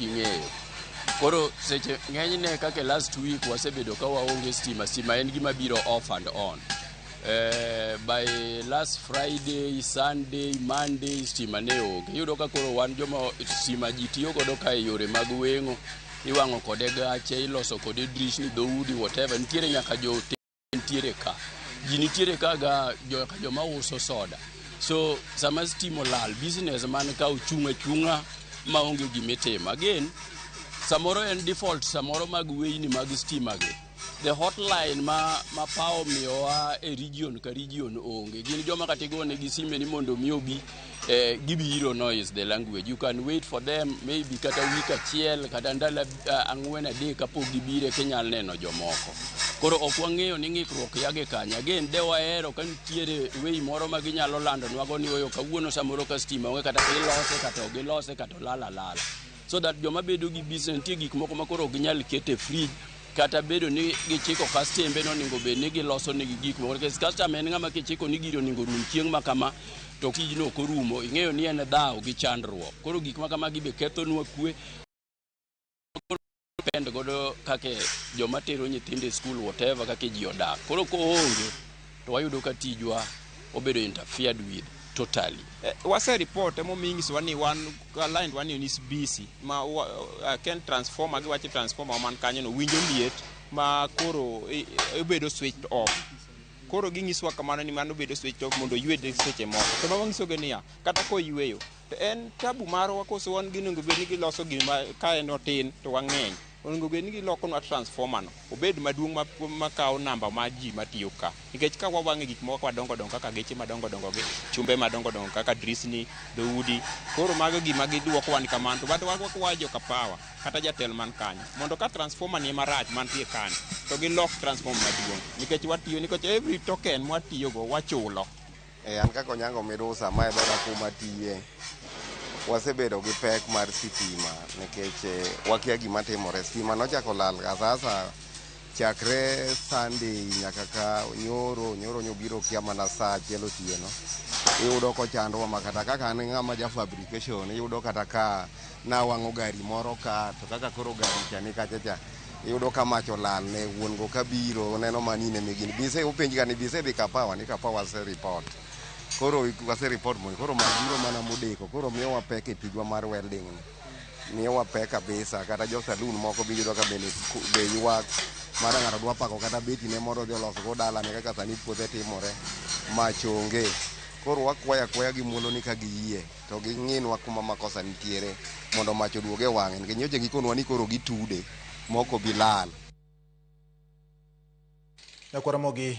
Ing'eyo. Koro seche ng'enyne kaka last week wasebedo ka waonge stima, stima en gima biro off and on. Eh, by last Friday, Sunday, Monday stima ne onge. Iyudo ka koro wan joma stima ji tiyo godo ka e yore mag weng'o, iwang'o kode gache, iloso kode drisni, dhoudi, whatever. Nitiere nyaka jo nitiere ka ji nitiere ka ga joma uso soda so sama stima olal business man ka ochung' achung'a ma onge gima itimo again samoro en default samoro mag weyni mag stima gi the hotline ma ma pawo miyowa e region ka region onge gin joma kata igonegi simbe ni mondo omi obi eh, gibiro no is the language you can wait for them maybe kata week achiel kata ndalo uh, ang'wen adek kapok gibiro eka inyal neno jomoko koro ok wang'eyo ni ng'ikruok yage kanye again de wahero ka nitiere wei moro ma ginyalo landonwago ni oyo kawuono samoro ka stima onge kata ilose kata ok ilose kata olal alala so that joma bedo gi business nitie gik moko ma koro ok ginyal kete fridge kata bedo ni gichiko kastembe no onego bed ni giloso negi gik moko nikech kastama en ng'ama kichiko ni giri onego rum chieng' ma kama to tijno ok orumo ing'eyo ni en dhawo gi chandruok koro gik ma kamagi be kethonwa kwe depend godo kake joma tero nyithindo e skul whatever kake ji odak koro koonge to wayudo ka tijwa obedo interfered with totally. Eh, wase report emo mingis wani wan aligned wani ni busy ma wa, uh, ken transformer gi wache transformer man kanyo no winjo liet ma koro ibedo e, switched off koro gingiswa kamano ni mano bedo switched off mondo ywe seche moko to ma wangiso ge niya kata ko yweyo to en tabu marwa koso wan ginengo bed ni giloso gima ka en otin to wang'eny Onego bed ni gilokonwa transformer no obed maduong' ma, makawo namba ma ji matiyo ka. Nikech ka wawang'e gik moko madongo dongo kaka geche madongo dongo gi chumbe madongo dongo kaka drisni, dhoudi, koro mago gima giduokowa ni kamano to bado wago kwa joka power kata jatel man kanyo mondo ka transformer ni marach mantie kani to gilok transformer maduong' nikech watiyo nikech every token mwatiyogo wachulo. E an kaka Onyango Mirusa ma e dhoda kuma atiye, wasebedo gi pek mar sitima nikech eh, wakia gima timore. Sitima nochako lal asasa chakre Sunday nyaka ka nyoro, nyoro nyobiro kia mana saa achiel otieno. Iyudo kochandwa ma kata kaka an ng'ama ja fabrication, iyudo kata ka nawang'o gari moro ka, to kaka koro gari cha ni kacha cha, iyudo ka mach olal ne wuon go kabiro oneno mani ne migini bise openj gani bise dhi kapawa ni kapawa ase report koro ase report mondo koro mach biro mana modeko koro miyo wapek e tijwa mar welding ni miyo wapek kabisa kata jo saloon moko biyudo ka bende be ywak mara ng'ato dwa pako kata beti ne moro dhi oloso go dalane kaka sani puothe timore mach onge koro wakwayo akwaya gi muolo ni ka giyie to ging'inwa kuma makosa nitiere mondo mach oduog e wang'e nikech nyocha gikonwa ni koro gitude moko bilal. Nyakwar Ramogi